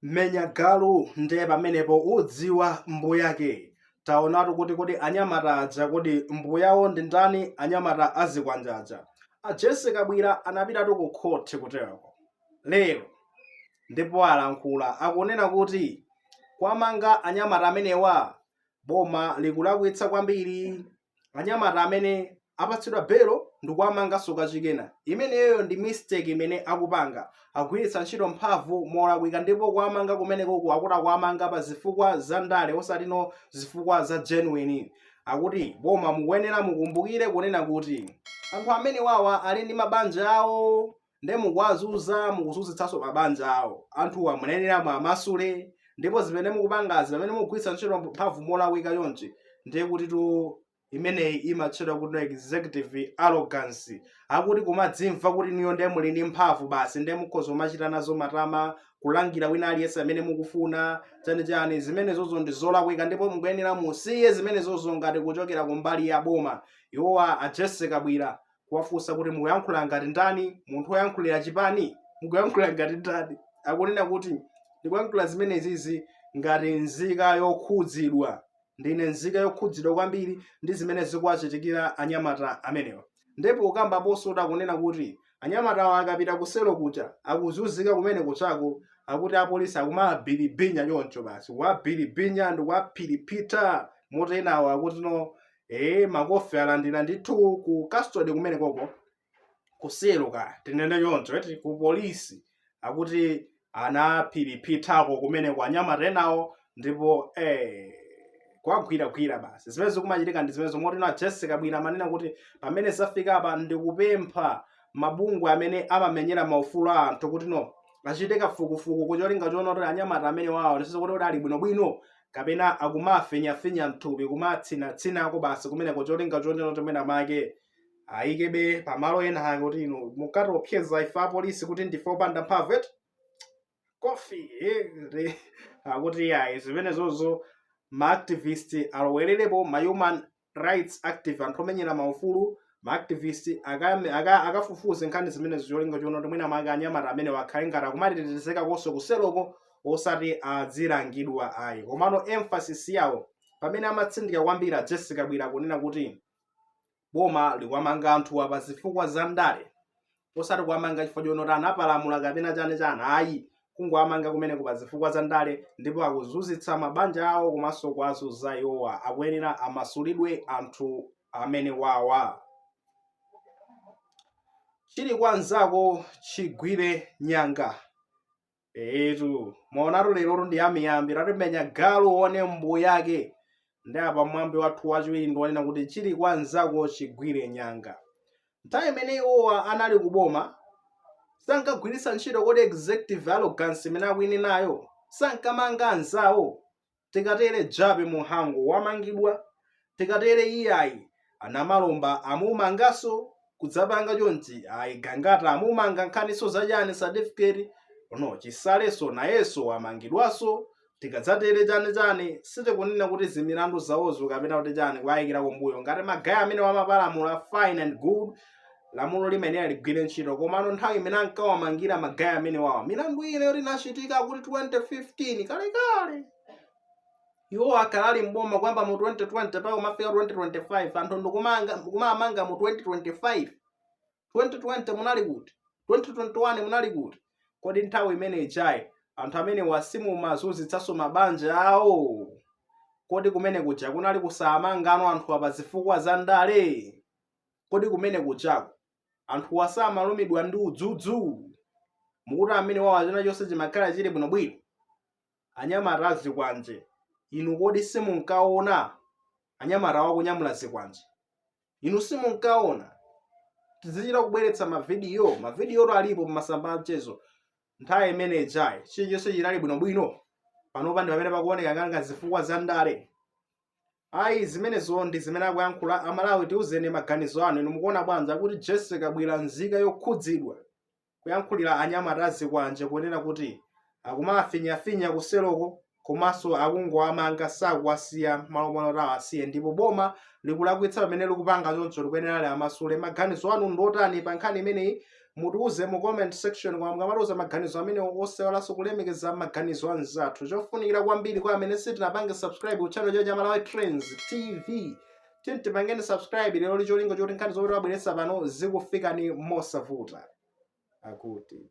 menya galu ndiye pamenepo udziwa mbuyake taonatu kuti kodi anyamata aja kodi mbuyawo ndi ndani anyamata azikwanja aja a jesse kabwira anapitatu ku khoti kutereko lero ndipo alankhula akunena kuti kuwamanga anyamata amenewa boma likulakwitsa kwambiri anyamata amene apatsidwa belo ndikuwamanganso kachikena imeneyoyo ndi mistake imene akupanga agwiritsa ntchito mphamvu molakwika ndipo kuwamanga kumenekoku akuti akuwamanga pa zifukwa za ndale osatino zifukwa za genuine akuti boma mukuyenera mukumbukire kunena kuti anthu amenewawa ali ndi mabanja awo nde mukuwazunza mukuzunzitsanso mabanja awo anthuwa muyenera muwamasule ndipo zimene mukupangazi pamene mukugwiritsa ntchito mphamvu molakwika chonchi ndiye kuti imeneyi imatchedwa kuti executive arrogance akuti kumadzimva kuti inuyo ndiye muli ndi mphamvu basi ndiye mukhoza kumachita nazo matama kulangira wina aliyense amene mukufuna chani chani zimenezozo ndi zolakwika ndipo mukuyenera musiye zimenezozo ngati kuchokera kumbali ya boma iwowa a Jesse Kabwira kuwafunsa kuti mukuyankhula ngati ndani munthu woyankhulira chipani mukuyankhula ngati ndani akunena kuti ndikuyankhula zimenezizi ngati nzika yokhudzidwa ndine nzika yokhudzidwa kwambiri ndi zimene zikuwachitikira anyamata amenewa ndipo ukambaponso akunena kuti anyamatawa akapita kuseloko akuzunzika kumenekoko akuti apolisi akumawabilibinya choncho basi kuwabilibinya ndikuwaphiriphitha moti enawo akuti no ee makofi alandira ndithu ku custody kumenekoko kuseloko tinene choncho eti ku polisi akuti anaphiriphithako kumeneko anyamata enawo ndipo ee kuwagwiragwira basi zimene zikumachitika ndi zimene zomwe tinawo a jesse kabwira amanena kuti pamene zafika apa ndikupempha mabungwe amene amamenyera maufulu a anthu kuti no achite kafukufuku cholinga choona kuti anyamata amenewawo ndi zoona kuti ali bwinobwino kapena akumafinyafinya mthupi kumatsinatsinako basi kumeneko cholinga chonena kuti mwina make ayikebe pamalo ena ake kuti inu mumatiopseza ife apolisi kuti ndife opanda mphamvu eti kofi akuti ayi zimenezozo maactivist alowererepo mahuman rights active anthu omenyera maufulu maactivist akame- aka- akafufuze nkhani zimenezo cholinga choona kuti mwina mwake anyamata amenewa akhale ngati akumatetezeka konse kuseloko osati adzilangidwa ayi komano emphasis yawo pamene amatsindika kwambiri a jesse kabwira kunena kuti boma likuwamanga anthuwa pa zifukwa za ndale osati kuwamanga chifukwa chonoti anapalamula kapena chani chani ayi kungowamanga kumeneko pa zifukwa za ndale ndipo akuzunzitsa mabanja awo komanso kuwazunza iwowa akuyenera amasulidwe anthu amenewawa chili kwa mnzako chigwire nyanga etu mwaonatu lerotu ndi amiyambi tatimenya galu one mbuyake ndi apa mwambi wathu wachiwiri ndi wonena kuti chili kwa nzako chigwire nyanga nthawi imene iwowa anali kuboma sankagwiritsa ntchito kodi executive arrogance imene akuine nayo sankamanga anzawo tikatere Jappie Mhango wamangidwa tikatere iyayi a Namalomba amumangaso kudzapanga chonchi ayi gangata amumanga nkhaniso zachani certificate no Chisaleso nayenso wamangidwaso tikadzatere chani chani sitikunena kuti zimilandu zawozo kapena kuti chani kuwayikira kumbuyo ngati magaya amene wamapalamula fine and good lamulo limenelo ligwire ntchito komano nthawi imene ankawamangira magaya amene wawa milandu ine yoti inachitika kuti 2015 kalekale iwo akalali mboma kuyamba mu 2020 mpaka kumafika 2025 anthu ndikumamanga mu 2025 2020 munali kuti 2021 munali kuti kodi nthawi imene ijayi anthu amenewa simumazunzitsanso mabanja awo kodi kumene kuja kunali kusamanganso anthu pa zifukwa za ndale Kodi kumene kujako anthuwa samalumidwa ndi udzudzu? Mukuti amene wawa china chonse chimakhala chili bwinobwino? Anyamata a zikwanje inu kodi simunkaona anyamata wakunyamula zikwanje? Inu simunkaona? Tizichita kubweretsa mavidiyo, mavidiyotu alipo pamasamba a mchezo. Nthawi imene ijayi chilichonse chinali bwinobwino, panopa ndi pamene pakuoneka ngati zifukwa za ndale. Ayi zimenezo ndi zimene akuyankhula a Malawi tiuzeni maganizo anu inu mukuona bwanji kuti Jessy Kabwila nzika yokhudzidwa kuyankhulira anyamata azikwanje kunena kuti akumawafinyafinya ku seloko komanso akungowamanga sakuwasiya malo moti awasiye ndipo boma likulakwitsa pamene likupanga choncho likuyenera liwamasule maganizo anu ndiotani pankhani imeneyi mutiuze mu comment section koma mukamatiuza maganizo amenewo osaiwalanso kulemekeza maganizo a anzathu chofunikira kwambiri kwa amene sitinapange subscribe ku channel chathu cha malawi trends tv tiyeni tipangeni subscribe lero ndi cholinga choti nkhani zomwe timabweretsa pano zikufikani mosavuta akuti